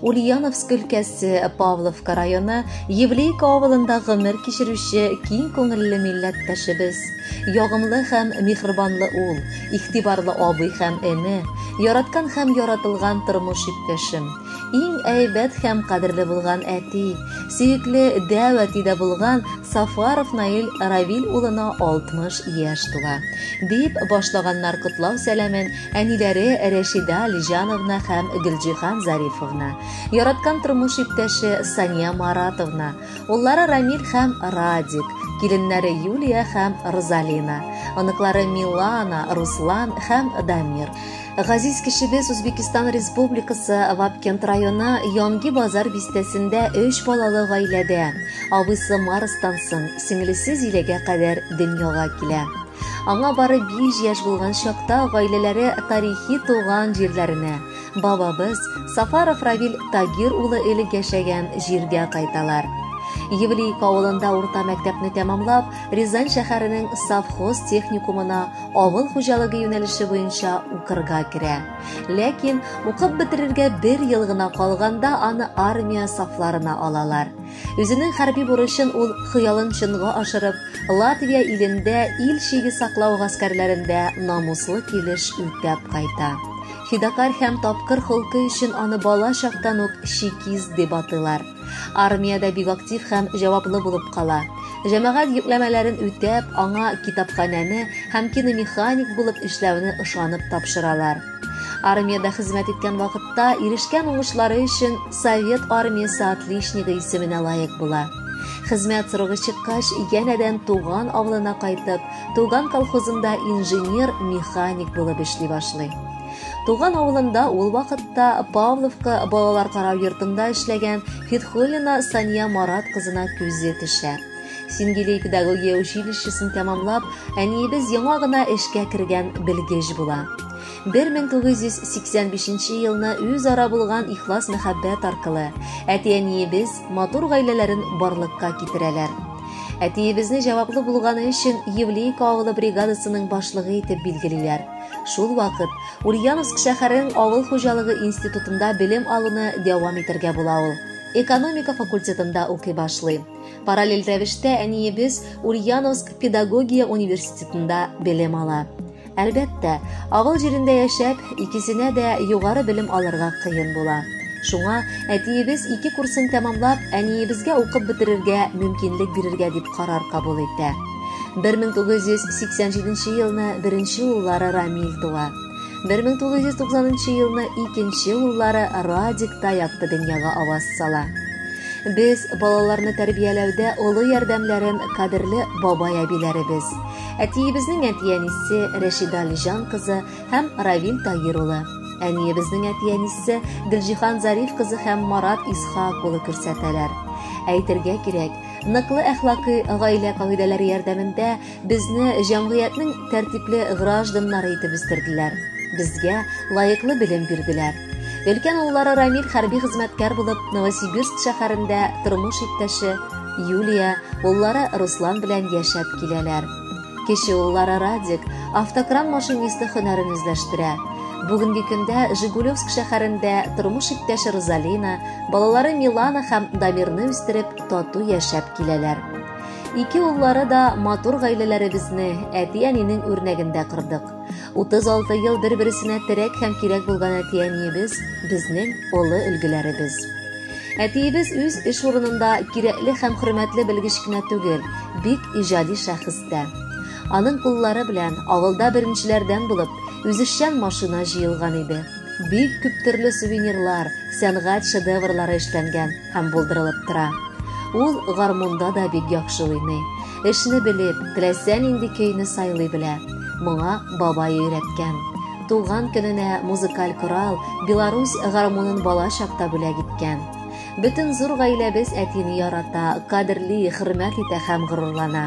Ульяновск өлкәсе, Павловка районы, Евлейка авылында гомер кичерүче киң күңелле милләттәшебез. Ягымлы һәм михрбанлы ул, игътибарлы абый һәм эне, яраткан һәм яратылган тормыш иптәшем. Иң әйбәт һәм кадерле булган әти, сөекле дәү әтидә булган Сафаров Наил Равил улына 60 яшь тула. Дип башлаганнар котлау сәламен Әниләре Рәшидә Алиҗановна һәм Гөлҗиһан Зарифовна, яраткан тормыш иптәше Сания Маратовна, уллары Рамил һәм Радик, киленнәре Юлия һәм Розалина, оныклары Милана, Руслан һәм Дамир. Газиз кешебез Үзбекистан Республикасы Вапкент районы Янги Базар бистәсендә өч балалы гаиләдә, абыйсы Марстан соң, сеңлесе Зиләгә кадәр дөньяга килә. Аңа бары биш яшь булган чакта гаиләләре тарихи туган җирләренә, бабабыз Сафаров Равил Тагир улы элек яшәгән җиргә кайталар. Евлейка авылында урта мәктәпне тәмамлап, Рязань шәһәренең совхоз техникумына авыл хуҗалыгы юнәлеше буенча укырга керә. Ләкин укып бетерергә бер ел гына калганда аны армия сафларына алалар. Үзенең хәрби бурычын ул хыялын чынга ашырып, Латвия илендә ил чиге саклау гаскәрләрендә намуслы килеш үтәп кайта. Фидакарь һәм тапкыр холкы өчен аны бала чактан ук чекист дип атыйлар. Армиядә бик актив һәм җаваплы булып кала. Җәмәгать йөкләмәләрен үтәп, аңа китапханәне һәм киномеханик булып эшләүне ышанып тапшыралар. Армиядә хезмәт иткән вакытта ирешкән уңышлары өчен Совет армиясе отличнигы исеменә лаек була. Хезмәт срогы чыккач, янәдән туган авылына кайтып, туган колхозында инженер-механик булып эшли башлый. Туган авылында ул вакытта Павловка балалар карау йортында эшләгән Фитхуллина Сания Марат кызына күзе төшә. Сингилей педагогия училищесын тәмамлап, әниебез яңа гына эшкә кергән белгеч була. 1985 елны үз ара булган ихлас мәхәббәт аркылы әти-әниебез матур гаиләләрен барлыкка китерәләр. Әтиебезне җаваплы булганы өчен Евлейка авылы бригадасының башлыгы итеп билгелиләр. Шул вакыт Ульяновск шәһәренең авыл хуҗалыгы институтында белем алуны дәвам итәргә була ул. Экономика факультетында укый башлый. Параллель рәвештә әниебез Ульяновск педагогия университетында белем ала. Әлбәттә, авыл җирендә яшәп, икесенә дә югары белем алырга кыен була. Шуңа әтиебез ике курсын тәмамлап, әниебезгә укып бетерергә мөмкинлек бирергә дип карар кабул итә. 1987 елны беренче уллары Рамил туа. 1990 елны икенче уллары Радик та якты дөньяга аваз сала. Без балаларны тәрбияләүдә олы ярдәмләрен кадерле бабай-әбиләребез, әтиебезнең әтиәнисе Рәшидә Алиҗан кызы һәм Равил Таир улы, әниебезнең әтиәнисе Гөлҗихан Зариф кызы һәм Марат Исхак улы күрсәтәләр. Әйтергә кирәк, ныклы әхлакый гаилә кагыйдәләре ярдәмендә Безне җәмгыятьнең тәртипле гражданнары итеп үстерделәр. Безгә лаеклы белем бирделәр. Өлкән уллары Рамил хәрби хезмәткәр булып Новосибирск шәһәрендә тормыш иптәше Юлия, уллары Руслан белән яшәп киләләр. Кече уллары Радик автокран машинисты һөнәрен үзләштерә. Бүгенге көндә Жигулевск шәһәрендә тормыш иптәше Розалина, балалары Милана һәм Дамирны үстереп, тату яшәп киләләр. Ике уллары да матур гаиләләребезне әти-әнинең үрнәгендә кырдык. 36 ел бер-берсенә терәк һәм кирәк булган әти-әниебез безнең олы өлгеләребез. Әтиебез үз эш урынында кирәкле һәм хөрмәтле белгеч кенә түгел, бик иҗади шәхес тә. Аның куллары белән авылда беренчеләрдән булып, үзешчән машина җыелган иде. Бик күп төрле сувенирлар, сәнгать шедеврлары эшләнгән. һәм булдырылып тора. Ул гармунда да бик яхшы уйный. Эшне белеп, теләсә нинди көйне сайлый белә. Моңа бабай өйрәткән. Туган көненә музыкаль корал, Беларусь гармунын бала чакта бүләк иткән. Бөтен зур гаиләбез әтине ярата, кадерли, хөрмәт итә һәм горурлана.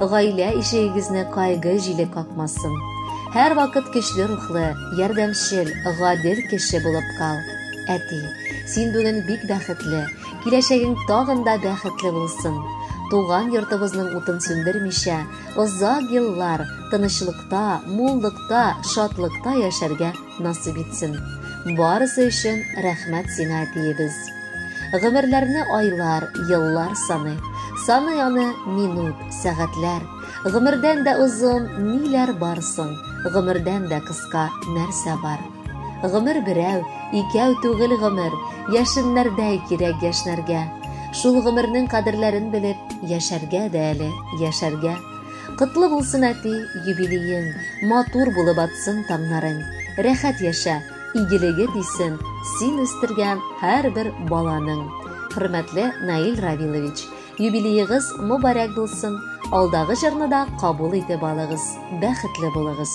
Гаилә ишегегезне кайгы җиле какмасын. Һәрвакыт көчле рухлы, ярдәмчел, гадел кеше булып кал. Әти, син бүген бик бәхетле, киләчәгең тагын да бәхетле булсын. Туган йортыбызның утын сүндермичә, озак еллар тынычлыкта, муллыкта, шатлыкта яшәргә Насыйп итсен. Барысы өчен рәхмәт сиңа, әтиебез. Гомерләрне айлар, еллар саны, саны аны минут, сәгатьләр. Гомердән дә озын ниләр бар соң, гомердән дә кыска нәрсә бар. Гомер берәү, икәү түгел гомер, яшеннәрдәй кирәк яшьнәргә. Шул гомернең кадерләрен белеп, яшәргә дә әле, яшәргә. Котлы булсын, әти, юбилеең, матур булып атсын таңнарың. Рәхәт яшә, игелеге тисен син үстергән һәрбер баланың. Хөрмәтле Наил Равилович, юбилеегыз мобарәк булсын, алдагы җырны да кабул итеп алыгыз, бәхетле булыгыз!